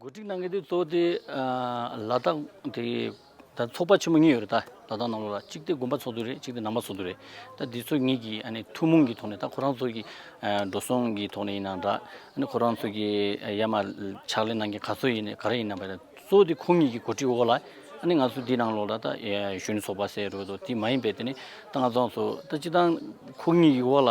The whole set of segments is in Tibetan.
གོ་སྒྲིག་གནང་མཁན་དེ་གཙོ་བོ་དེ་ལ་དྭགས་དེ་ད་ཚོགས་པ་ཆེན་མོ་གཉིས་ཡོད་རེད་ད་ལ་དྭགས་ནང་ལོགས་ལ་གཅིག་དེ་དགོན་པ་ཚོགས་འདུ་རེད་གཅིག་དེ་ནང་པ་ཚོགས་འདུ་རེད་ད་འདི་ཚོ་གཉིས་ཀྱི་ཨ་ནི་ཐུན་མོང་གི་ཐོག་ནས་ད་ཁོ་རང་ཚོ་གི་འགྲོ་སོང་གི་ཐོག་ནས་ཡིན་ནའང་འདྲ་ཨ་ནི་ཁོ་རང་ཚོ་གི་ཡ་མ་ཕྱག་ལས་གནང་མཁན་ག་ཚོད་ཡིན་ནས་ག་རེ་ཡིན་ནའང་འདྲ་གཙོ་བོ་དེ་ཁོང་གཉིས་ཀྱི་གོ་སྒྲིག་འོག་ལ་ཨ་ནི་ང་ཚོ་འདི་ནང་ལོགས་ལ་ད་གཞོན་ནུ་ཚོགས་པ་ཟེར་རོ་དེ་མ་ཡིན་པའི་དེ་ནི་ད་ང་ཚོ་ཚོ་ད་སྤྱི་བཏང་ཁོང་གཉིས་ཀྱི་འོག་ལ།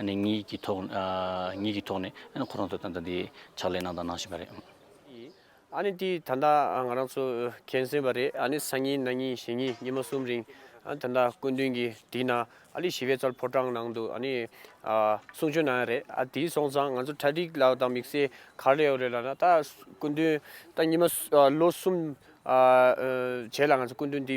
ནས་ཉིད་ཀྱི་ཐོག་ཉིད་ཀྱི་ཐོག་ནས་ཁོ་རང་ཚོ་ད་ལྟ་འདི་ཕྱག་ལས་གནང་དང་གནང་བཞིན་པ་རེད། ཨ་ནི་དེ་ད་ལྟ་ང་རང་ཚོ་མཁྱེན་སོན་པ་རེད་ཨ་ནི་སང་ཉིན་ན་ཉིན་ཞེ་ཉིན་ཉི་མ་གསུམ་རིང་ད་ལྟ་སྐུ་མདུན་གྱི་དེ་ན་ཨ་ལི་ཞི་བའི་རྩར་ཕོ་བྲང་ནང་དུ་ཨ་ནི་གསུང་ཆོས་གནང་ཡ་རེད་ཨ་དེ་སོང་ཙང་ང་ཚོ་གྲ་སྒྲིག་ལ་དང་དམིགས་བསལ་ག་རེ་ཡོད་རེད་ལ་ན་ད་སྐུ་མདུན་ད་ཉི་མ་ལོ་གསུམ་བྱས་ལ་ང་ཚོ་སྐུ་མདུན་དེ།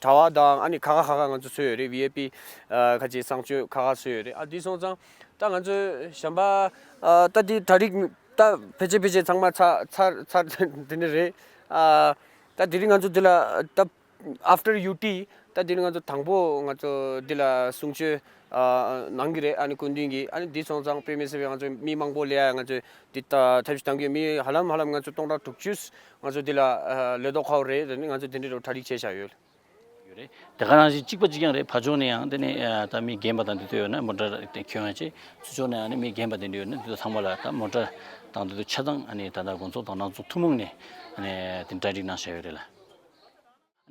གྲྭ་བ་དང་ཨ་ནི་ཁ་ཁ་ཁ་ཁ་ང་ཚོ་གསོལ་ཡོད་རེད VIP ཁ་ཅིག་གསང་སྤྱོད་ཁ་ཁ་གསོལ་ཡོད་རེད་ཨ་དེ་སོང་ཙང་ད་ང་ཚོ་བྱམས་པ་ད་དེ་གྲྭ་རིགས་ད་ཕལ་ཆེར་ཕལ་ཆེར་ཚང་མ་ཚར་ཚར་ཚར་དེ་འདྲ་རེད། ད་དེ་རིང་ང་ཚོ་འདི་ལ་ད After UT ད་དེ་རིང་ང་ཚོ་དང་པོ་ང་ཚོ་འདི་ལ་གསུང་ཆོས་གནང་གི་རེད་ཨ་ནི་སྐུ་མདུན་གྱིས་ཨ་ནི་དེ་སོང་ཙང་དཔེ་མེད་སེ་བས་ང་ཚོ་མི་མང་པོ་ལས་ང་ཚོས་འདི་ལྟ་ཐབས་ཤིག་གཏང་གི་ཡོད་མི་ཧ་ལམ་ཧ་ལམ་ང་ཚོ་སྟོང་ཕྲག་དྲུག་ཅུས་ང་ཚོ་འདི་ལ་ལོས་ཏོག་ཁའོ་རེད་དེ་ནི་ང་ཚོ་དེ་འདྲའི་རུ་གྲ་རིག་བྱས་བཞག་ཡོད། ཡོད་རེད་དེ་ག་རང་བཞིན་གཅིག་པ་གཅིག་རྐྱང་རེད་ཕ་ཆོག་ནས་ཡང་དེ་ནི་ད་མི་རྒན་པ་དང་དེ་ཚོ་ཡོད་ན་མོ་འདྲ་དེ་ཁྱོད་ཡང་བྱེད་ཚུལ་ཆོག་ནས་ཡང་ནི་མི་རྒན་པ་དེ་འདྲ་ཡོད་ན་དེ་ཚོ་ཚང་མ་ལ་ད་མོ་འདྲ་དང་དེ་ཚོ་ཆ་ཚང་ནི་ད་ད་དགོང་ཚོགས་དང་ནང་ཚོགས་ཐུན་མོང་ནས་ནི་དེ་འདྲ་རིག་གནང་བཞག་ཡོད་རེད་ལ།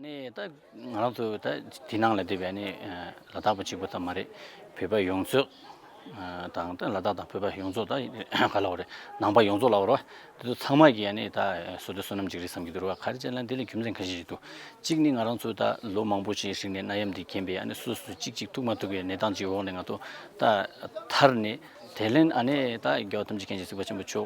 ད་ང་རང་ཚོ་ད་དེ་ནང་ལ་སྡོད་པའི་ལ་དྭགས་པ་གཅིག་པུ་ཙམ་མ་རེད་བོད་པ་ཡོངས་རྫོགས་དང་ལ་དྭགས་དང་བོད་པ་ཡོངས་རྫོགས་ད་ག་ལ་བ་རེད་ནང་པ་ཡོངས་རྫོགས་ལ་བ་རེད་དེ་ཚོ་ཚང་མ་གྱི་ཡ་ནི་ད་སོ་དེ་བསོད་ནམས་ཅིག་རེད་བསམ་གྱི་འདུག་ར་བ་ག་རེ་བྱས་ན་དེ་ལ་རྒྱུ་མཚན་ག་ཞིག་ཅིག་འདུག་གཅིག་ནི་ང་རང་ཚོ་ད་ལོ་མང་པོ་ཞིག་རིང་ནས་གནའ་ཡམས་འདི་རྐྱེན་པས་ཡ་ནི་སོ་སོ་གཅིག་གཅིག་ཐུག་མ་ཐུག་གི་གནས་སྟངས་ཅིག་འོག་ནས་ང་ཚོ་ད་ཐར་ནས་དེ་ལན་ཡ་ནི་ད་རྒྱལ་བ་ཐམས་ཅད་མཁྱེན་བརྩེ་སྲིད་པ་ཆེན་པོ་མཆོག